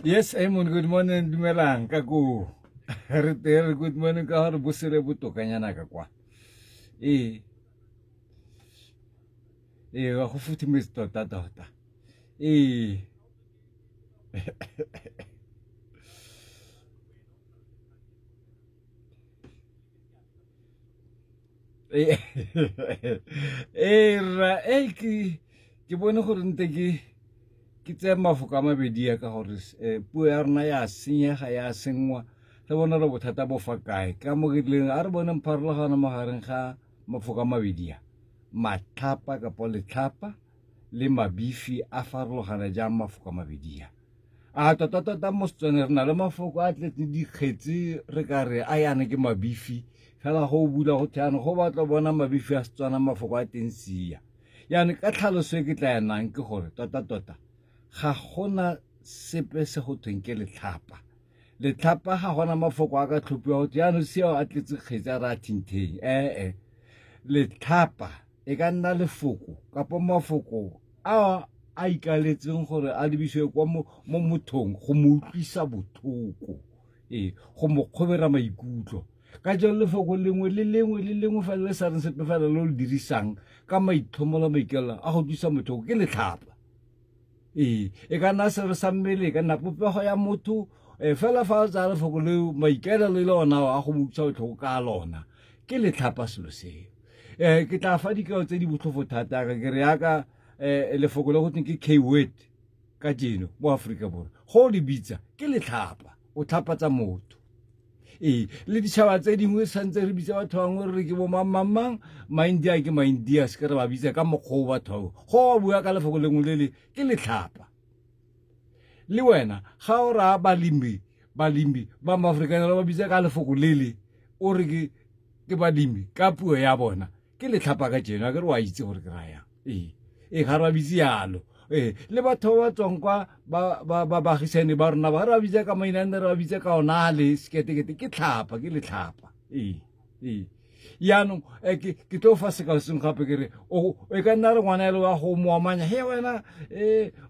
Yes, Emon, good morning, dumelang, ka ko. Re tere, good morning, ka gore bosele botokanyana ka kwa. Ee. Ee, ga go futhumetse tota tota. Ee. ee rra e ke bone gore nte ke ke tseye mafoko a mabedi ya ka gore eh, puo ya rona ya senyega ya sengwa re bone re bothata bo fa kae ka mo ke tleng a re bone pharologano mo gareng ga mafoko a mabedi ya matlhapa kapa letlhapa le mabifi a farologana jang mafoko a mabedi ya a tota-tota mo setswaneng re na le mafoko a tletse dikgetse re ka re a yana ke mabifi fela go bula go theano go batla bona mabifi a setswana mafoko a teng sia yana ka tlhaloso e ke tla yanang ke gore tota-tota ga gona sepe se go thweng ke letlhapa letlhapa ga gona mafoko a ka tlhophiwa go theano seo a tletse kgetse a re a thintheng ee letlhapa e ka nna lefoko kapo mafoko a a ikaletseng gore a lebisiwe kwa mo mothong go mo utlwisa bothoko ee go mo kgobera maikutlo ka jalo lefoko lengwe le lengwe le lengwe fela le sa reng sepe fela lo le dirisang ka maitlhomo la maikelela a go utlwisa mothoko ke letlhapa ee e ka nna sero sa mmele e ka nna popego ya motho um fela fa o tsaya lefoko leo maikaelelo e le ona a go mo utlwisa botlhoko ka lona ke letlhapa selo seo um ke tla fa dikao tse di botlhofo thata re ke re yaka um lefoko le go teng ke k word ka jeno mo aforika borwa go le bitsa ke letlhapa o tlhapatsa motho ee le ditšhaba tse dingwe santse re bitsa batho bangwe re ke bo mangmangmang maindia ke maindia se ke re ba bitsa ka mokgwa o batho bao go ba bua ka lefoko lengwe le le ke letlhapa le wena ga o raya balemi balemi ba maaforikanerwa ba bitsa ka lefoko lele o re ke ke balemi ka puo ya bona ke letlhapa ka jeno a ke re wa itse gore ke rayang ee ee ga re ba bitse yalo ee le batho ba ba tswang kwa bagisane ba rona ba re ba bitsa ka maina a nne re ba bitse ka ona a le seketekete ke tlhapa ke letlhapa ee ee yaanong eh, ke tlo fa sekaleseng gape ke re e ka nna re ngwana ele wa go moamanya he wena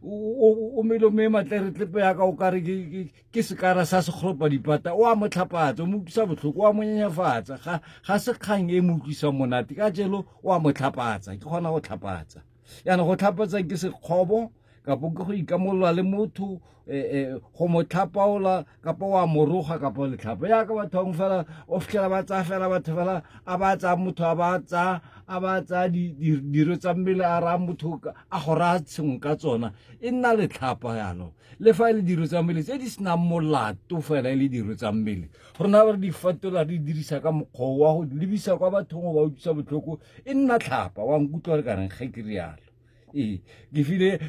um o mele me matleretle tlepe yaka o kare ke sekara sa sekgolopa dipata o a mo tlhapatsa o mo utlwisa botlhoko o a mo nyenyefatsa ga se kgang e mo utlwisang monate ka jelo o a mo tlhapatsa ke kgona go tlhapatsa yana go tlhapatsa ke sekgobo kapo ke go ikamolola le motho eh, eh, go mo tlhapaola kapa wa moroga kapa letlhapo yaka batho bangwe fela o fitlhela ba tsaya fela batho fela a ba tsaya motho a ba tsaya a ba tsaya diro tsa mmele a raya motho a go raya tshengwe ka tsona e nna letlhapa yalo le fa e le diro tsa mmele tse di senang molato fela e le diro tsa mmele rona ba re di fatola re dirisa ka mokgwa wa go lebisa kwa bathong go ba utlwisa botlhoko e nna tlhapa wa nkutlwa le kareng ge ke rialo ee ke file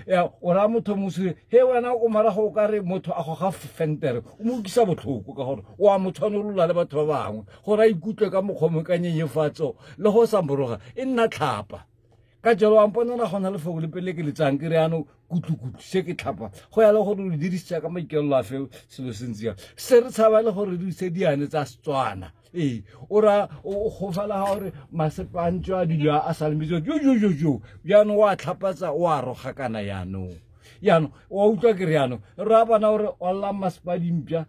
o raya motho mosire he wena o marago o ka re motho a goga fentere o mo ukisa botlhoko ka gore o a mo tshwanolola le batho ba bangwe gore a ikutlwe ka mokgwa mo ka nyenyefatso le go sa moroga e nna tlhapa ka jalo wa mponana go na le foko le pele ke letsang ke re yanong kutlukutlu se ke tlhapa go ya le gore o dirisitsa ka maikelelo a feo selo se ntse jang se re tshaba le gore re dirise diane tsa setswana ee o ra o gofala ga gore masepantso a dilo a sa lemetso jo jo jo jo jaanong o a tlhapatsa o a roga kana jaanong jaanong wa utlwa ke re jaanong re a bona gore ollang masepa dimpša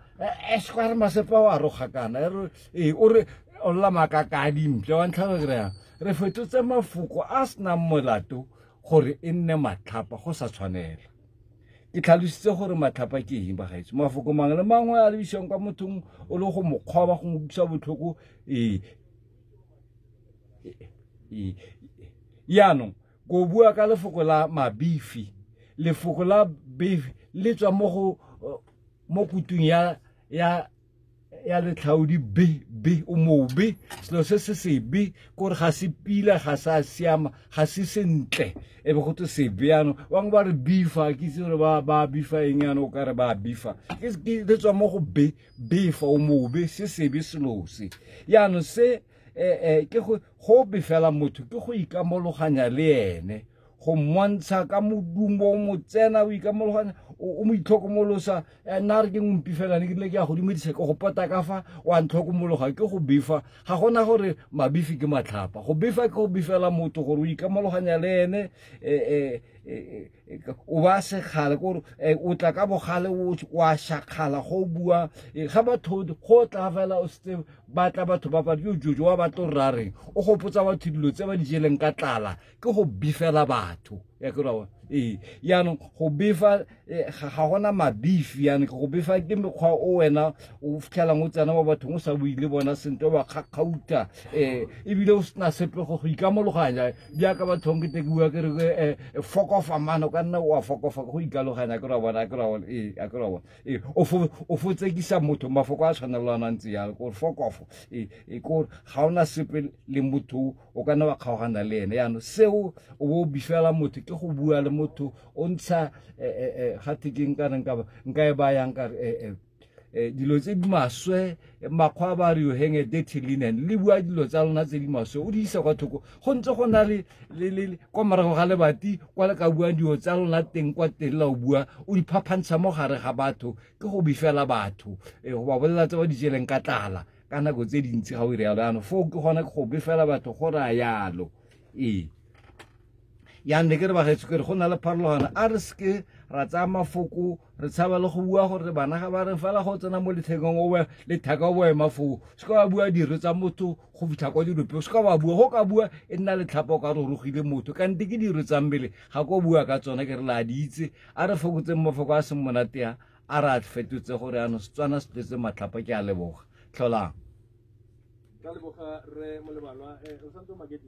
esekwa e re masepa o a roga kana e ee o re olla makaka a dimpša wa ntlha ke re yang re fetotse mafoko a senang molato gore e nne matlhapa go sa tshwanela e tlhalositse gore matlhapa ke eng bagaetso mafoko mangwe le mangwe a lebisiwang kwa mothong o le go mokgwaba go utlwisa botlhoko ee yaanong ko bua ka lefoko la mabifi lefoko la beef le tswa mo go mo kutung ya ya ya letlhaodi be be o mobe selo se se sebe kore ga se pila ga sa siama ga se sentle e be go te sebe yano bangwe ba re bifa ke itse gore ba ba bifa eng yano o kare ba bifa ke le tswa mo go be befa o mobe se sebe selo se yano se eh, eh, ke go befela motho ke go ikamologanya le ene go mmontsha ka modumo o motsena o ikamologanya o mo itlhokomolosa eh, nna re ke ngompi fela ne ke ne ke ya godimo dise ke go pota ka fa wa ntlhokomologa ke go befa ga gona gore mabifi ke matlhapa go befa ke go befela motho gore o ikamologanya le ene eh, eh, o ba sekgale kore o tla ka bogale wa shakgala go bua ga batho go tla fela o setse batla batho ba badi yo jojo wa batlo rareng o gopotsa batho dilo tse ba di jeleng ka tlala ke go bifela batho ya ke rawa ee yaanong go befa eh, ga gona mabifi yaanong ke go befa ke mekgwa o wena o fitlhelang o tsena mo bathong o sa bue le bona sentle wa kgakgauta um eh, ebile o sena sepe go go ikamologanya jaaka bathong ke tekiwa ke re eh, fokofa mano ka nna wa fokofa go ikaloganya ke ra bona ke ra bona ee a ke ra bona ee o fotsekisa motho mafoko a tshwanelanang tse yalo kore fokofo ee kore ga ona sepe le motho o ka nna wa kgaogana le ene yaanong seo o bo o bifela motho ke go bua le motho o ntsha eh, eh, eh, ga thekeng kana nka e bayang kare dilo tse di maswe makgwa ba re yo henge dirty linen le bua dilo tsa lona tse di maswe o di isa kwa thoko go ntse go na le kwa morago ga lebati kwa le ka buang dilo tsa lona teng kwa teng la o bua o di phaphantsha mo gare ga batho ke go bifela batho go ba bolelela tse ba di jeleng ka tlala ka nako tse dintsi ga o ire yalo yanong foo ke gone go befela batho go raya yalo ee yang ne ke re bagaetso ke re go na le pharologano a re seke ra tsaya mafoko re tshaba le go bua gore bana ga ba re fela go tsena mo lethekeng o letheka o boema foo se ka ba bua diro tsa motho go fitlha kwa dilope o se ka ba bua go ka bua e nna letlhapa o ka re rogile motho ka nte ke diro tsa mmele ga ko bua ka tsone ke re la di itse a re fokotseng mafoko a seng monatea a re a fetotse gore ano setswana se tletse matlhapa ke a leboga tlholang ka leboga re molebalwa eh, o santse magedi